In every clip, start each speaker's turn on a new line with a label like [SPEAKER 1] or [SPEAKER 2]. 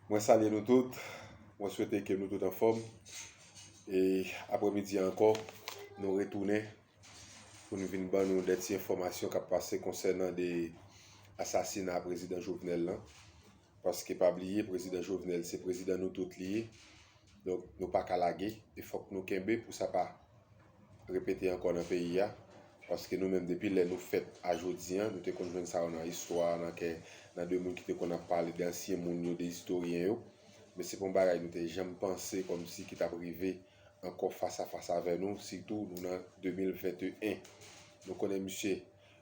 [SPEAKER 1] Mwen salye nou tout, mwen swete ke nou tout anfòm, e apre midi a ankò, nou retounen pou nou vin ban nou de ti enfòmasyon kap pase konsènan de asasina prezidan Jovenel lan, paske pa bliye prezidan Jovenel se prezidan nou tout li ye, donk nou pa ka lage, e fòk nou kenbe pou sa pa. repete ankò nan peyi a, paske nou menm depi lè nou fèt a jodi an, nou te konn jwenn sa yo nan istwa, nan kè, nan de moun ki te konn ap pale, de ansyen moun yo, de istoryen yo, men se pa yon bagay nou te janm panse kòmsi ki t ap rive ankò fas a fas avè nou, sitou nou nan 2021. Nou konnen misye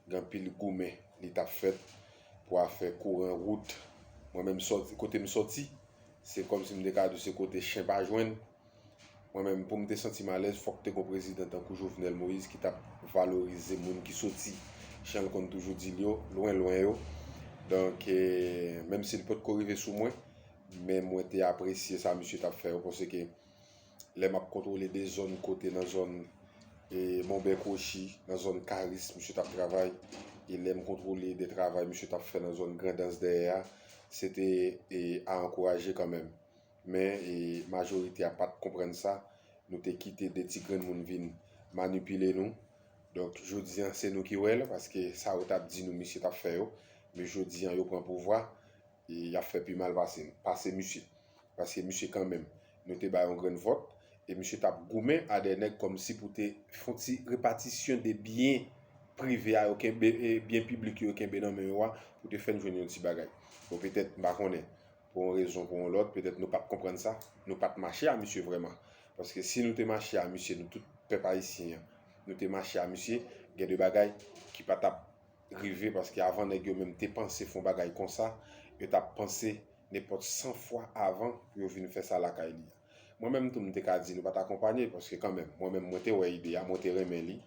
[SPEAKER 1] gen anpil goumen li t ap fèt pou afè kouran wout, mwen menm sòti, kote m sòti, se kòmsi m te ka di w se kote chen pa jwenn. Mwen menm poum te santim alèz fòk te gon prezidan tankou Jovenel Moïse ki tap valorize moun ki soti janl konn toujou dil yo, lwen lwen yo. Donk menm sil potko rive sou mwen men mwen te apresye sa misye tap fè yo paske lè map kontwole de zòn kote nan zòn Monbè Kwochi, nan zòn Karis misye tap travay e lèm kontwole de travay misye tap fè nan zòn Grandans dèyè a se te a ankouraje kanmenm. Men majorite a pat konprann sa, nou te kite 2 ti grenn moun vin manipile nou. Donk jodi an se nou ki wè l, paske sa yo tap di nou misye tap fè yo, men jodi an yo pran pouvwa, yap fè pi mal pase n, pase misye. Paske misye kanmenm nou te bay yon grenn vòt, e misye tap goumen a dè nèg kòmsi pou te fon ti repatisyon de byen prive a yo kenbe, byen piblik yo yo kenbe nan men yo a, pou te fè n jwenn yon ti bagay. Bon petèt m pa konnen, Pou yon rezon pou yon lòt, petèt nou pat konprann sa, nou pat mache a misye vrèman. Paske si nou te mache a misye, nou tout pèp ayisyen an, nou te mache a misye, gen de bagay ki pa tap rive paske avan nèg yo menm te panse fon bagay konsa, yo tap panse nenpòt 100 fwa avan pou yo vin fè sa lakay li. Mwen menm tou m te ka di nou pat akonpanye paske kanmenm mwen menm mwen te wè ide a, mwen te renmen li,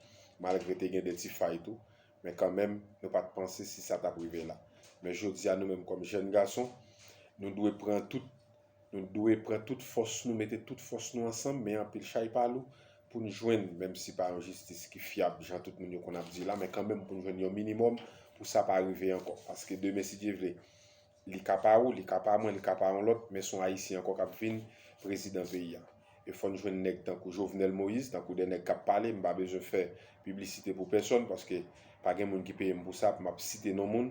[SPEAKER 1] malgre te gen de ti fay tou. Men kanmenm, nou pa t panse si sa t ap rive la. Men jodi a, nou menm kòm jèn gason, nou dwe pran tout, nou dwe pran tout fòs nou, mete tout fòs nou ansanm, men anpil chay pa lou, pou n jwenn, menm si pa yon jistis ki fyab jan tout moun yo konn ap di la, men kanmenm pou n jwenn yon minimòm pou sa pa rive ankò. Paske demen si Dye vle, Li ka pa ou, li ka pa mwen, li ka pa yon lòt, men son Ayisyen ankò kap vin prezidan peyi a. E fòn jwenn nèg tankou Jovenel Moïse, tankou de nèg kap pale, m pa bezwen fè piblisite pou pèsòn, paske pa gen moun ki peye m pou sa, pou m ap site non moun.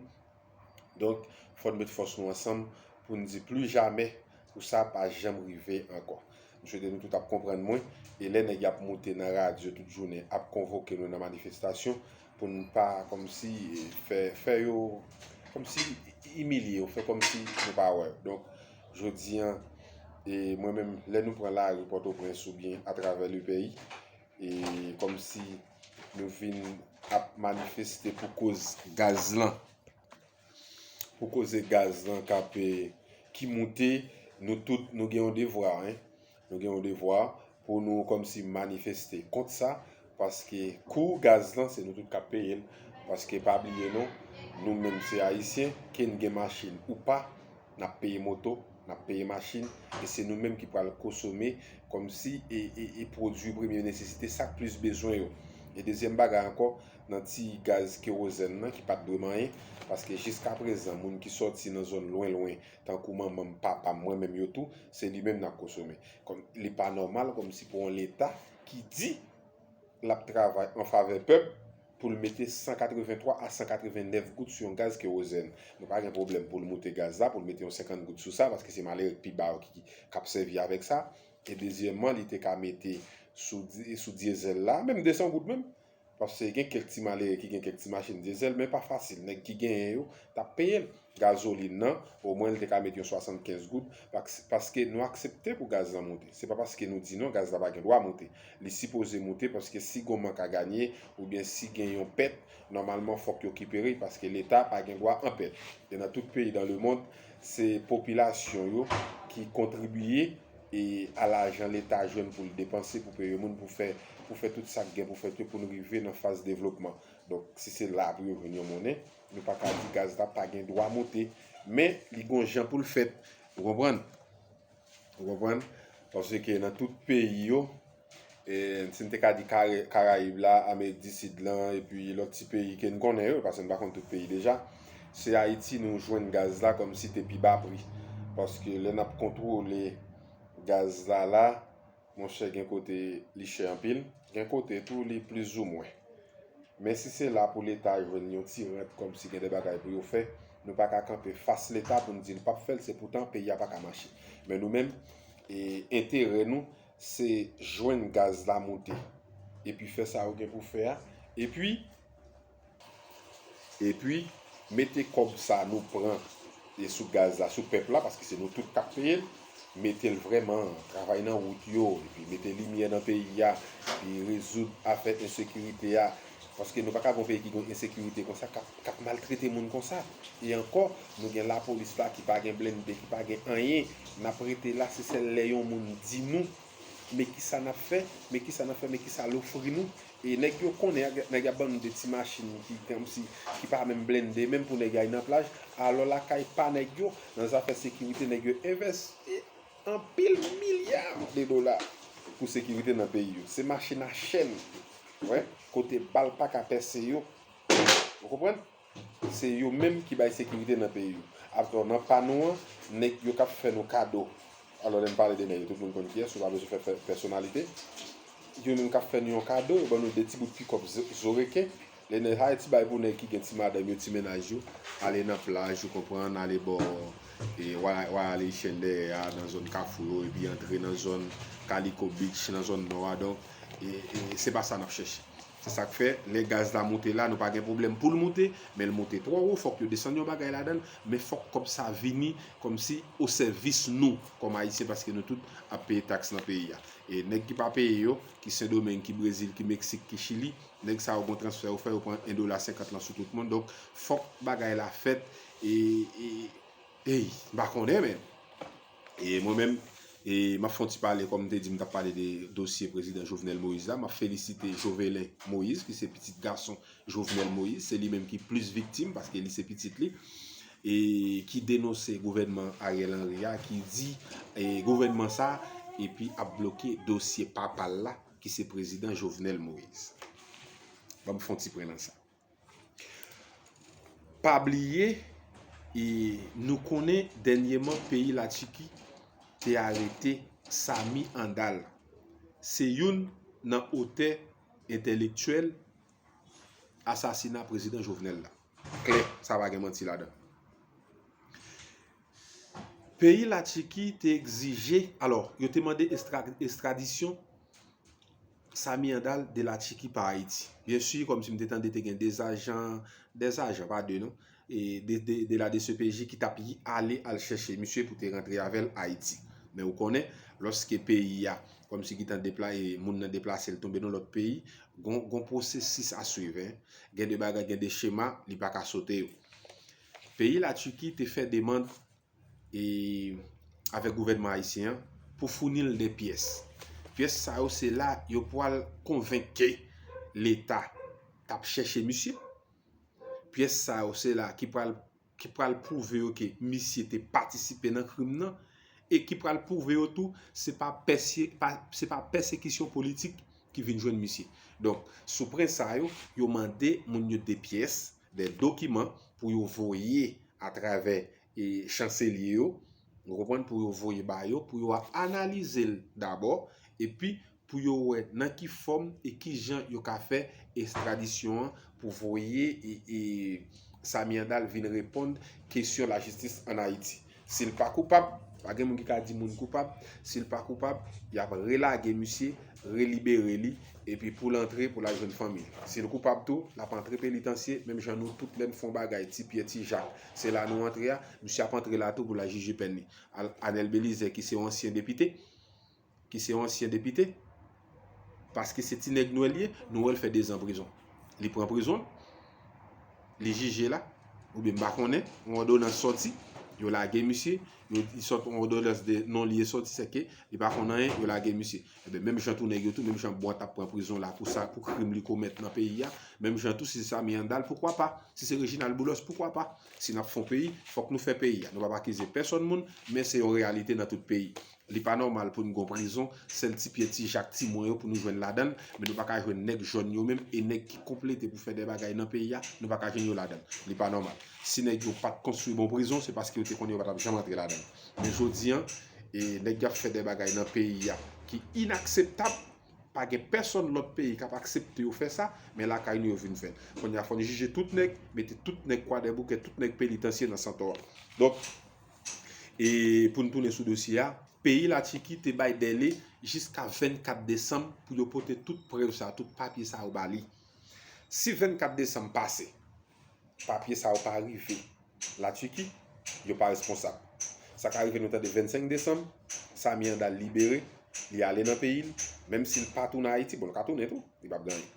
[SPEAKER 1] Donk, fòn met fòs nou ansanm pou n di pli jamè pou sa pa janm rive ankò. M swete nou tout ap konprann mwen, e lè nèg yap moute nan radyo tout jounen ap konvoke nou nan manifestasyon, Pou n pa kòmsi fè, fè yo kòmsi imilye yo, fè kòmsi yo pa wè yo. Donk, jodi an, e mwen menm, lè nou pran lari Pòtoprens oubyen atravè le peyi, e kòmsi nou vin ap manifeste pou koz gaz lan. Pou koze gaz lan kap ki moute nou tout nou gen yon devwa hein nou gen yon devwa pou nou kòmsi manifeste kont sa paske kou gaz lan se nou tout kap peye l paske pa bliye non nou menm se ayisyen ke n gen machin ou pa nap peye moto nap peye machin e se nou menm ki pral kosome kòmsi e pwodui premye nesesite sak plis bezwen yo e dezyèm bagay ankò nan ti gaz kerozèn nan ki pat dwe manyen, paske jiskaprezan moun ki sòti nan zòn lwen lwen tankou manman m, papa m, mwen menm yo tou, se li menm n ap kosome. Kòm li pa nòmal kòm si pou yon leta ki di l ap travay an favè pèp pou l mete 183 a 189 goud sou yon gaz kerozèn. Mwen pa gen pwoblèm pou l moute gaz la, pou l mete yon 50 goud sou sa, paske se malere k pi ba yo ki k ap sèvi avèk sa. E dezyèmman li te ka mete sou sou dyezèl la, menm 200 goud menm, Paske gen kèk ti malere ki gen kèk ti machin dyezèl men pa fasil. Nèg ki genyen yo t ap peye l. Gazolin nan, omwen l te ka met yon 75 goud paske nou aksepte pou gaz lan moute. Se pa paske nou di non gaz la pa gen dwa moute. Li sipoze moute paske si gon mank a ganye oubyen si gen yon pèt, nòmalman fòk yo kipere l paske Leta pa gen dwa an pèt. E nan tout peyi dan lemond se popilasyon yo ki kontribiye e a lajan leta jwenn pou l depanse pou peye moun pou fè pou fè tout sa k gen pou fèt yo pou nou rive nan faz devlopman donk si se la pou yo jwenn yon monnen nou pa ka di gaz la pa gen dwa moute men li gon jan pou l fèt ou konprann ou konprann paske nan tout peyi yo E si n te ka di Karayib la, Amerik di Sid lan, epi lòt ti peyi ke n konnen yo, pase n pa konn tout peyi deja, se Ayiti nou jwenn gaz la kòm si te pi ba pri. Paske lè n ap kontwole gaz la la, monchè gen kote li chè anpil, gen kote tou li plizoumwen. Men si se la pou Leta jwenn yon ti rant kòm si gen de bagay pou yo fè, nou pa ka kanpe fas Leta pou n di l pap fè l, se poutan peyi a pa ka mache. Men nou menm, enterè nou, se jwenn gaz la moute epi fè sa ou gen pou fè a epi epi mete kòb sa nou pran e sou gaz la sou pèp la paske se nou tout kap peye l mete l vrèman travay nan wout yo epi mete limyè nan peyi a epi rezoud afè ensekirite a Paske nou pa ka gen yon peyi ki gen yon ensekirite konsa k ap maltrete moun konsa. E ankò, nou gen lapolis la ki pa gen blennde, ki pa gen anyen. N ap rete la, se sèl lè yon moun di nou, men ki sa n ap fè, men ki sa n ap fè, men ki sa l ofri nou. E nèg yo konnen, nèg y ap ban nou de ti machin ki kòmsi, ki pa menm blennde, menm pou nèg y al nan plaj. Alò lakay pa nèg yo, nan zafè sekirite, nèg yo envèsti. anpil milya de dola pou sekirite nan peyi yo. Se mache na chèn wè kote bal pa ka pèse yo. Ou konprann? Se yo menm ki bay sekirite nan peyi yo. Atò nan pa nou an, nèg yo k ap fè nou kado, alò lè m pale de nèg yo tout moun konn kiyès, ou pa bezwen fè pèsonalite, yo menm k ap fè nou yon kado, yo ban nou de ti bout pikòp zo reken. Lè nèg Hayti bay pou nèg ki gen ti madanm yo, ti mennaj yo, ale nan plaj, ou konprann, ale bò Royal Haitian dèyè a, nan zòn Kafou yo, epi antre nan zòn Kaliko Beach, nan zòn Nò a, donk, se pa sa n ap chèche. Se sa k fè, lè gaz la moute la, nou pa gen pwoblèm pou l moute, men l moute twò wo, fòk yo desann yon bagay ladan l, men fòk kòb sa vini kòmsi osèvis nou, kòm Ayisyen, paske nou tout ap peye taks nan peyi a. E nèg ki pa peye yo, ki Sendomeng, ki Brezil, ki Meksik, ki Chili, Nèg sa yo gon transfè yo fè yo pran 1 dola 50 lan sou tout moun donk fòk bagay la fèt e eyy m pa konnen men e mwen menm e m ap fon ti pale kòm m te di m t ap pale de dosye prezidan Jovenel Moïse la m ap felisite Jovelen Moïse ki se pitit gason Jovenel Moïse se li menm ki plis viktim paske li se pitit li e ki denonse gouvènman Ariel Henry a ki di e gouvènman sa epi ap bloke dosye papa l la. ki se prezidan Jovenel Moise. Ban m fon ti pren nan sa. Pa bliye, e nou konnen dènyeman peyi la Tchiki te arete Sami Andal. Se youn nan otè entèlektyèl asasina prezidan Jovenel la. Klè, sa pa gen manti ladan. Peyi Latchiki te egzije, alò, yo te mande estradisyon Samy Handal de Latchiki pa Ayiti. Byen si, kòm si m te tande te gen 2 ajan, 2 ajan, pa 2 non, de la dcpj ki t ap ale al chèche misye pou te rantre avè l Ayiti. Men ou konnen, lòske peyi a, kòm si gitan deplaye, moun nan deplase l tonbe nan lòt peyi, gon pwosesis a swiv. Gen de bagay, gen de chema, li pa ka sote yo. Peyi La Turquie te fè demand e avèk gouvènman ayisyen an pou founi l 2 pyès. Pyès sa yo se la yo pwal konvenk ke leta tap chèche misye. Pyès sa yo se la ki pwal ki pwal pwouve yo ke misye te patisipe nan krim nan e ki pwal pwouve yo tou se pa pèse se pa pèsekisyon politik ki vin jwenn misye. Donk sou pwen sa yo, yo mande moun yo 2 pyès de dokiman pou yo voye atravè chanselye yo, ou konprann, pou yo voye ba yo, pou yo analize l dabò, epi pou yo wè nan ki fòm e ki jan yo ka fè estradisyon an pou voye Samy Andal vin reponn kesyon lajistis ann Ayiti. Si l pa koupab, pa gen moun ki ka di moun koupab, si l pa koupab, y ap relage misye, relibere li, epi pou l antre pou l al jwenn fanmi l. Si l koupab tou, l ap antre penitansye, menm jan nou tout lè n fon bagay, ti Pyè, ti Jak, se la nou antre a, misye ap antre la tou pou l al jije pèn li. Anèl Belizè ki se yon ansyen depite, ki se yon ansyen depite, paske se ti nèg Nwèl li ye, Nwèl fè 2 zan prizon. Li pran prizon, li jije la, oubyen m pa konnen, yon òdonans sòti, yo lage misye, li sòt yon òdonans de non li e sòti, sèke li pa konn anyen, yo lage misye. Eben, menm jan tou nèg yo tou, menm jan Bwant ap pran prizon la pou sa, pou krim li komèt nan peyi a, menm jan tou si se Samy Handal, poukwa pa? Si se Reginald Boulos, poukwa pa? Si n ap fè yon peyi, fòk nou fè peyi a. Nou p ap akize pèsòn moun, men se yon reyalite nan tout peyi. Li pa nòmal pou n gon prizon, sèl ti pyè ti jak ti mwen yo pou nou jwenn ladan l, men nou pa ka jwenn nèg jòn yo menm e nèg ki konplete pou fè de bagay nan peyi a, nou pa ka jwenn yo ladan l. Li pa nòmal. Si nèg yo pa t konstwi bon prizon, se paske yo te konnen yo pa t ap janm antre ladan l. Men jodi an, nèg y ap fè de bagay nan peyi a ki inakseptab, pa gen pèsonn lòt peyi k ap aksepte yo fè sa, men lakay nou yo vin fè l. Kounye a fò n jije tout nèg, mete tout nèg kwadèboukè, tout nèg penitansye nan santò a. Donk. E pou nou tounen sou dosye a, peyi Latiki te bay dèle jiska 24 desanm pou yo pote tout prèv sa yo, tout papye sa yo ba li. Si 24 desanm pase, papye sa yo pa rive Latiki, yo pa responsab. Sa ka rive nou tande 25 desanm, Samy Handal libere, li ale nan peyi l, menm si l pa tounen Ayiti, bon l ka tounen tou, li p ap gen anyen.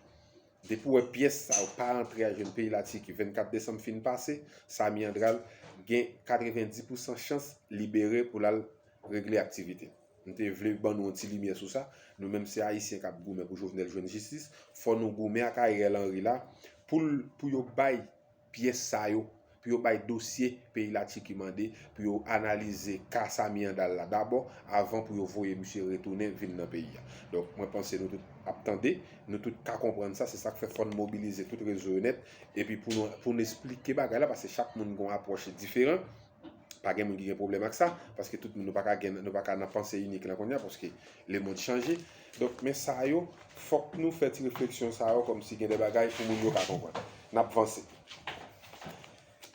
[SPEAKER 1] Depi w wè pyès sa yo pa antre al jwenn peyi Latiki 24 desanm fin pase, Samy Andral gen 90 pousan chans libere pou l al regle aktivite l. M te vle ban nou yon ti limyè sou sa, nou menm se Ayisyen k ap goumen pou Jovenel jwenn jistis, fò nou goumen ak Ariel Henry la pou l pou yo bay pyès sa yo pou yo bay dosye peyi Latiki mande pou yo analize ka Samy Handal la dabò avan pou yo voye misye retounen vin nan peyi a. Donk mwen panse nou tout ap tande, nou tout ka konprann sa, se sa k fè fò n mobilize tout rezo yo nèt epi pou nou esplike bagay la paske chak moun gen yon apwòch diferan. Pa gen moun ki gen pwoblèm ak sa, paske tout moun nou pa ka gen, nou pa ka nan panse inik lan kounye a, paske lemond chanje. Donk, men sa yo, fòk nou fè ti refleksyon sa yo kòmsi gen de bagay pou moun yo ka konprann. N ap vanse.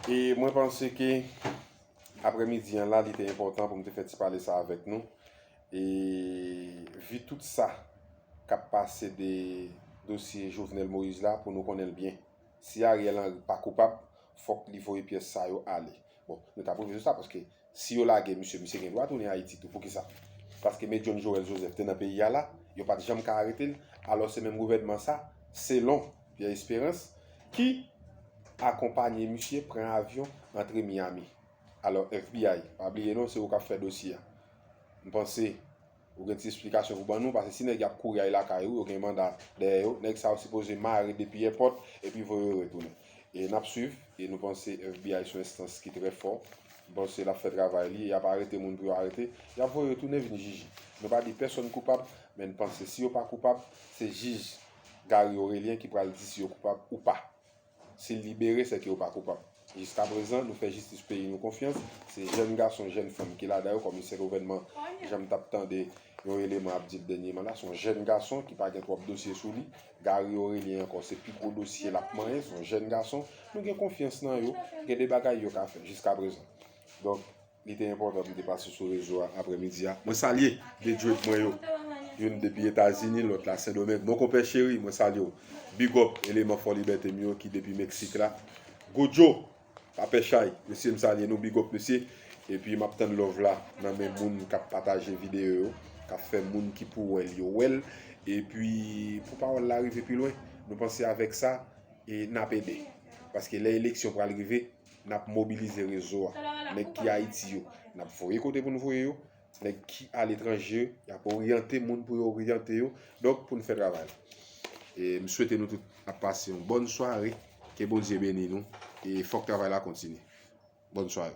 [SPEAKER 1] E mwen panse ke aprèmidi an la, li te enpòtan pou m te fè ti pale sa avèk nou. E vi tout sa k ap pase de dosye Jovenel Moïse la pou nou konnen l byen. Si Ariel Henry pa koupab, fòk li voye pyès sa yo ale. Bon, nou ta pwouve nou sa paske si yo lage misye, misye gen dwa tounen Ayiti tou. Poukisa? Paske Me John Joël Joseph te nan peyi a la, yo pa t janm ka arete l. Alò se menm gouvènman sa, selon Pierre Espérance, ki akonpanye misye pran avyon antre Miami. Alò FBI, pa bliye non se ou k ap fè dosye a. M panse Ou gen ti esplikasyon pou ban nou pase si nèg yap kouri al lakay ou yo gen manda dèyè yo nèg sa yo sipoze mare depi èpòt epi voye yo retounen e nap swiv e nou panse FBI son enstans ki trè fò nou panse lap fè travay li yap arete moun pou yo arete yap voye yo tounen vin jiji nou pa di pèsòn koupab men n panse si yo pa koupab se jij Garry Orélien ki pral di si yo koupab ou pa. Si l libere, sè ke yo pa koupab. Jiskaprezan, nou fè jistis peyi nou konfyans, se jèn gason, jèn fanm ki ladan yo, kòm sè gouvènman, jan m t ap tande yon eleman ap di l dènyeman la, s on jèn gason ki pa gen twòp dosye sou li, Garry Orélien ankò se pi gwo dosye l ap manyen, s on jèn gason, nou gen konfyans nan yo, gen de bagay yo ka fè, jiskaprezan. Donk. Li te enpòtan pou m te pase sou rezo a aprè midi a. Mwen salye 2 djwed mwen yo. Youn depi Etazini, lòt la Sendomeng. Mon konpè cheri, mwen salye w. Big up eleman Fòlibète m yo ki depi Meksik la. Gojo, pa pè chay. Mesye m salye nou, big up mesye. Epi m ap tann love la nan men moun k ap pataje videyo yo, k ap fè moun ki pou wè l yo wè l. Epi pou pawòl la rive pi lwen, nou panse avèk sa e n ap ede. Paske lè eleksyon pral rive, Nap mobilize rezo a. Nèg ki Ayiti yo, nap voye kote pou nou voye yo. Nèg ki aletranje, yap oryante moun pou yo oryante yo. Donk pou nou fè travay la. E m swete nou tout ap pase yon bòn sware. Ke Bondye beni nou. E fòk travay la kontinye. Bòn sware.